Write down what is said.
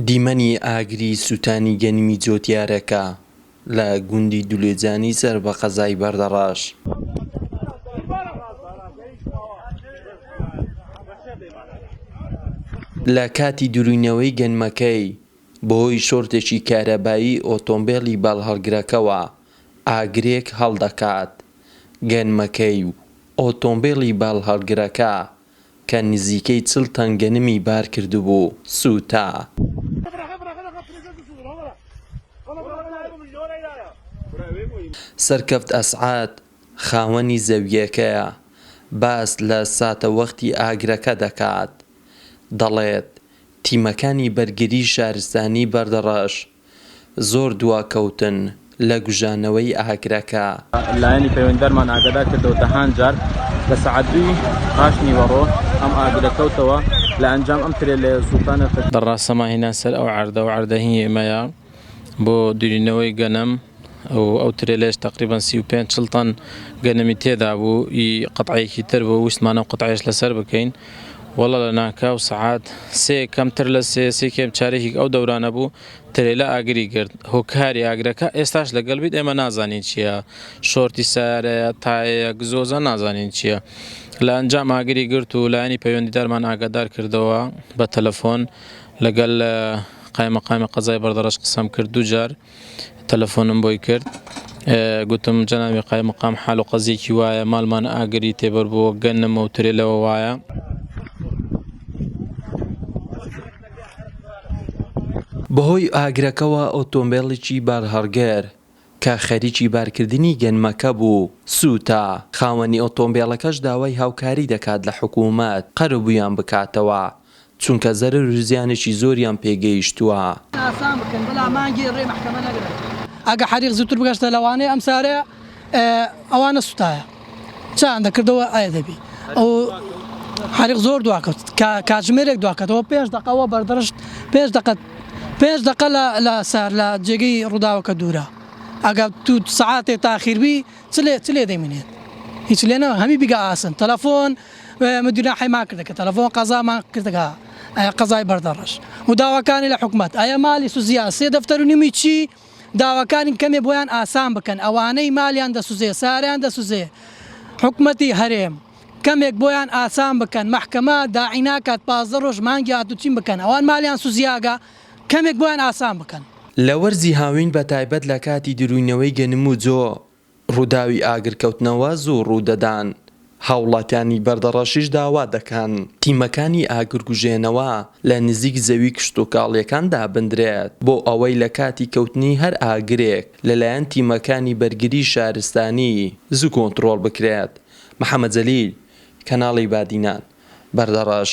دیمەنی ئاگری سوتانی گەنمی جۆتیارەکە لە گوندی دولێجانی سەر بە قەزای بەردەڕەش. لە کاتی دروینەوەی گەنمەکەی بەهۆی شۆرتێکی کارەبایی ئۆتۆمبێلی باڵهەڵگرەکەوە ئاگرێک هەڵدەکات گەنمەکەی و ئۆتۆمبێلی باڵهەڵگرەکە کە نزیکەی چل تەن گەنمی بار کردبوو، سووتا. سەرکەفت ئەسعەد، خاوەنی زەوییەکەیە، باس لە ساتەوەختی ئاگرەکە دەکات، دەڵێت، تیمەکانی بەرگریی شارستانیی بەردەڕەش زۆر دواکەوتن لە گوژانەوەی ئاگرەکە. لایەنی پەیوەندیدارمان ئاگادار کردەوە دەهان جار لە سەعات دووی پاش نیوەڕۆ ئەم ئاگرە کەوتەوە لە ئەنجام ئەم ترێلەیە سووتانە. بە ڕا سەما هینان سەر ئەو عەردە و عەردە هی ئێمەیە بۆ دورینەوەی گەنم و ئەو ترێلەیەش تەقریبەن سی و پێنج چڵ تەن گەنمی تێدا بوو ی قەتعەیەکی تر بوو ویستمانە ئەو قەتعەیەش لە سەر بکەین وەڵا لە ناکاو سەعات سێ کەمتر لە سێ سی کێم چارێکیک ئەو دەورانە بوو ترێلا ئاگری گرت هۆکاری ئاگرەکە ئێستاش لەگەڵ بیت ئێمە نازانین چیە شۆرتی سارەیە تایەیە گزۆزە نازانین چیە لە ئەنجام ئاگری گرت و لایەنی پەیوەندیدارمان ئاگادار کردەوە بە تەلەفۆن لەگەل قایمەقامی قەزای بەردەڕەش قسەم کرد دووجار تەلەفۆنم بۆی کرد گوتم جەناوی قای مقام حال و قەزیەکی وایە مالمان ئاگری تێبەر بۆ گەنم و ترێ لەوە وایە بەهۆی ئاگرەکەوە ئۆتۆمبێڵێکی بارهەڵگر کە خەریکی بارکردنی گەنمەکە بوو سووتا، خاوەنی ئۆتۆمبێڵەکەش داوای هاوکاری دەکات لە حکوومەت قەرەبوویان بکاتەوە چونکە زەرەر و زیانێکی زۆریان پێ گەیشتووە. ئەگە حەریق زووتر بگەشتە لەوانەیە ئەم سارە ئەوا نەسوتایە چایان دەکردەوە ئایا دەبی ئەو حەریق زۆر دواکەوت کە کاتژمێرێک دواکەتەوە پێنج دەقە ئەوە بەردەڕشت پێنج دەقە پێنج دەقە لە لە سار لە جێگەی ڕووداوەکە دوورە ئەگە تو سەعاتێ تاخیربی چ لێ چ لێ دەمینێت هیچ لێ نەما هەمی بیگا ئاسن تەلەفۆن ئێمە گوناحیمان کردە کە تەلەفۆن قەزامان کردە کە قەزای بەردەڕەش و داواکانی لە حکومەت ئایا مالی سوزیا سێ دەفتەر و نیمی چی داواکانی کەمێ بۆیان ئاسان بکەن ئەوانەی مالیان دەسوزێ ساریان دەسوزێ حکومەتی هەرێم کەمێک بۆیان ئاسان بکەن مەحکەمە داعی ناکات پازدە ڕۆژ مانگی هاتوو چیم بکەن ئەوان مالیان سوزیاگا کەمێک بۆیان ئاسان بکەن. لە وەرزی هاوین بە تایبەت لە کاتی دروینەوەی گەنم و جۆ ڕووداوی ئاگرکەوتنەوە زوو ڕوودەدان، هاوڵاتیانی بەردەڕەشیش داوا دەکەن تیمەکانی ئاگرکوژێنەوە لە نزیک زەوی کشتوکاڵیەکان دابندرێت بۆ ئەوەی لە کاتی کەوتنی هەر ئاگرێک لەلایەن تیمەکانی بەرگری شارستانی زوو کۆنترۆڵ بکرێت محەمەد جەلیل کەناڵی بادینان بەردەڕەش.